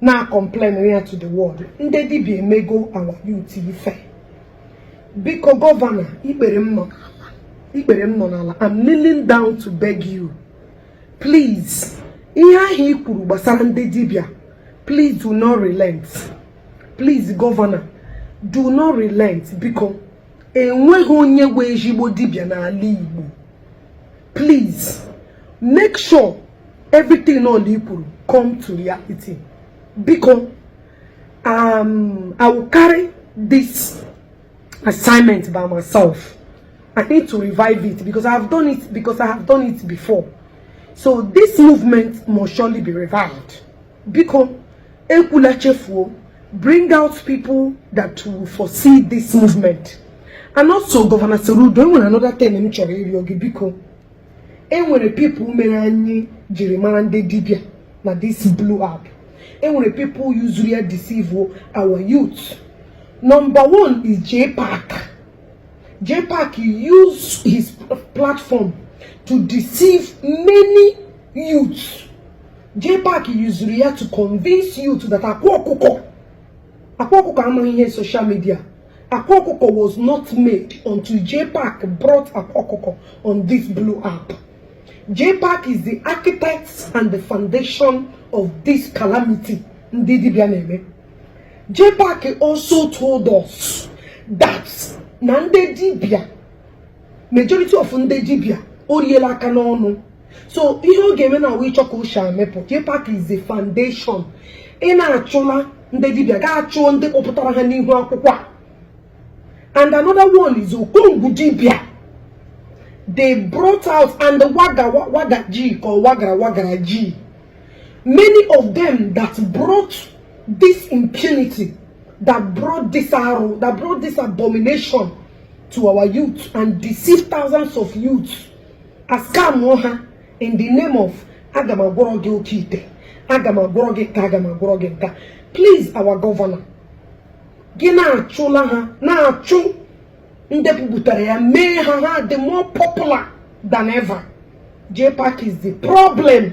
na-complain ya to the world ndị dibia emego our youth ife biko gọvanọ ikpere m nọ ikpere m nọ n'ala I'm kneeling down to beg you please ihe ahụ i kwuru gbasara ndị dibia please do not relent please gọvanọ do not relent biko enweghị onye bụ ezigbo dibịa n'ala Igbo please make sure everything all i kwuru come to reality biko um, I will carry this assignment by myself I need to revive it because I have done it because I have done it before so this movement must surely be revived biko ekwula chefuo bring out people that will foresee this movement and also Governor Soludo enwere another thing m chọrọ ịrịọ gị biko enwere people mere anyị jiri mara ndị dibia na this blue app enwere people yuzuru ya deceive our youth number one is JPAC JPAC used his platform to deceive many youths JPAC yuzuru ya to convince youth that akwa ọkụkọ akwa ọkụkọ amaghị ihe social media akwa ọkụkọ was not made until JPAC brought akwa ọkụkọ on this blue app JPAC is the architect and the foundation of this calamity ndị dibịa na-eme JPAC also told us that na ndị dibịa majority of ndị dibia o riela aka n'ọnụ so ihe ọ ga-eme now wụ ịchọ ka uche amepụ JPAC is the foundation ị na-achụla ndị dibia gaa chụọ ndị kpọpụtara ha n'ihu akwụkwọ a and another one is okongwu dibia they brought out and the waga waga ji ka wagara wagara ji many of them that brought this impunity that brought this arụ, that brought this abomination to our youth and deceive thousands of youth ascam ha in the name of aga m agwọrọ gị oke ite aga m agwọrọ gị nke a aga m agwọrọ gị nke a please our governor gị na-achụla ha na-achụ ndị bupụtara ya mee ha ha dị more popular than ever JPAC is the problem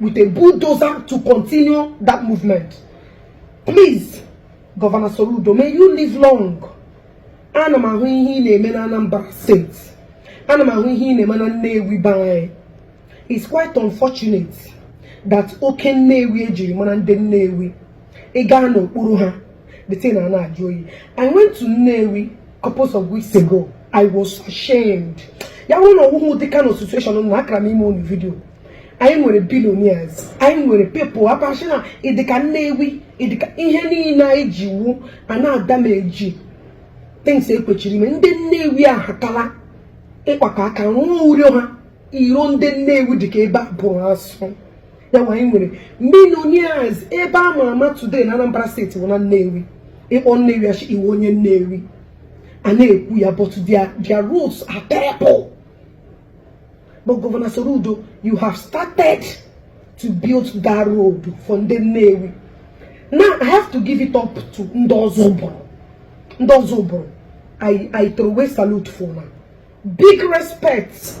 with a bulldozer to continue that movement. Please, Governor Soludo, may you live long. Ana m ahụ ihe ị na-eme na Anambra State. Ana m ahụ ihe ị na-eme na Nnewi be anyị. It's quite unfortunate that oke Nnewi ejiri mara ndị Nnewi. Ị gaa n'okpuru ha the thing na na-ajụ oyi i went to nnewi couples of weeks ago i was ashamed ya bụrụ na ọ wụghị ụdị kind of situation na akara m ime unu video anyị nwere billionaires anyị nwere people akpachi na ịdịka nnewi ịdịka ihe niile anyị ji wu a na-adamage things ekwechiri ime ndị nnewi ahakala ịkpakọ aka rụọ iro ha iro ndị nnewi dịka ebe a bụrụ asụ ya nwa anyị nwere millionaires ebe a ma ama today na Anambra steeti bụ na Nnewi ịkpọ Nnewi achị iwe onye Nnewi a na-ekwu ya but their roads are terrible but Governor Soludo you have started to build that road for ndị Nnewi now I have to give it up to ndị Ozubulu I throw away salute for now big respect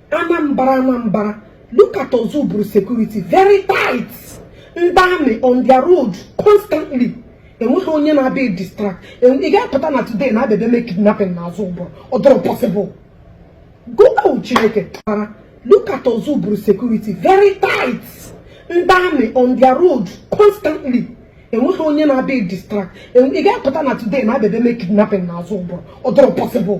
Anambra Anambra look at Ozubulu security very tight ndị army on their road constantly enweghị onye na-abịa distract ị ga-apụta na today na abịa mee kidnapping na Ozubulu ọ dịrọ possible go out Chineke kpara look at Ozubulu security very tight ndị army on their road constantly enweghị onye na-abịa distract ị ga-apụta na today na abịa mee kidnapping na Ozubulu ọ dịrọ possible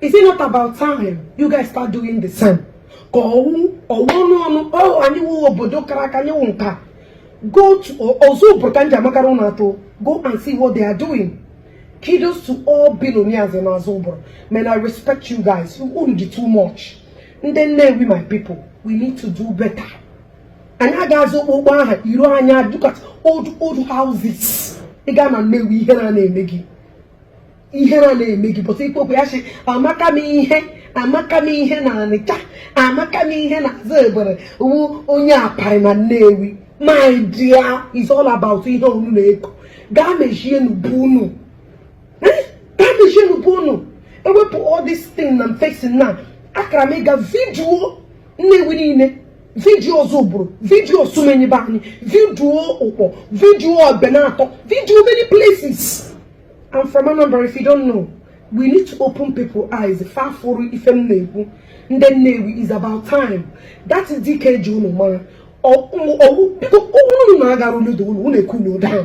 Is it not about time you guys start doing the same? ka ọ wụ ọnụ ọnụ ọhụ anyị wụ obodo kara aka anyị wụ nke a go to Ozubulu ka m ji ya makara unu atụ go and see what they are doing kudos to all billionaires na Ozubulu man I respect you guys unu dị too much ndị Nnewi my people we need to do better anyị agaghịzi okpokpo aha iru anya look at old old houses ị gaa na Nnewi ihere na-eme gị ihere na-eme gị pụta ikwu okwu ya sị amaka m ihe amaka m ihe na Ọnịcha amaka m ihe na Ozubulu wụ onye aparị na Nnewi my dear is all about ihe unu na-eko gaa mezie na be unu eh? gaa mezie na be unu ewepụ all this thing na facing now akara m ịga vidiyo Nnewi niile vidiyo Ozubulu vidiyo Osumenyi be anyị vidiyo Ukpor vidiyo Ebenator vidiyo many places I'm from Anambra if you don't know we need to open people eyes fa fụrụ ife m na-ekwu ndị Nnewi is about time that isi ike e ji unu mara biko unu na agara uludo unu unu ekwu n'udo ahụ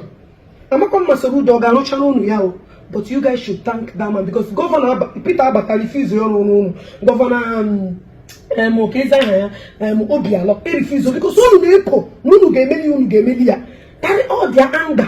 amakwa m ma Soludo ọ ga-arụchara unu ya o but you guys should thank that man because gọvanọ Peter abata refuse ọrụ ọrụ unu gọvanọ um, um, kedụzi aha ya um, Obiano a refuse o because unu na-epo na unu ga-emeli unu ga-emeli ya carry all their anger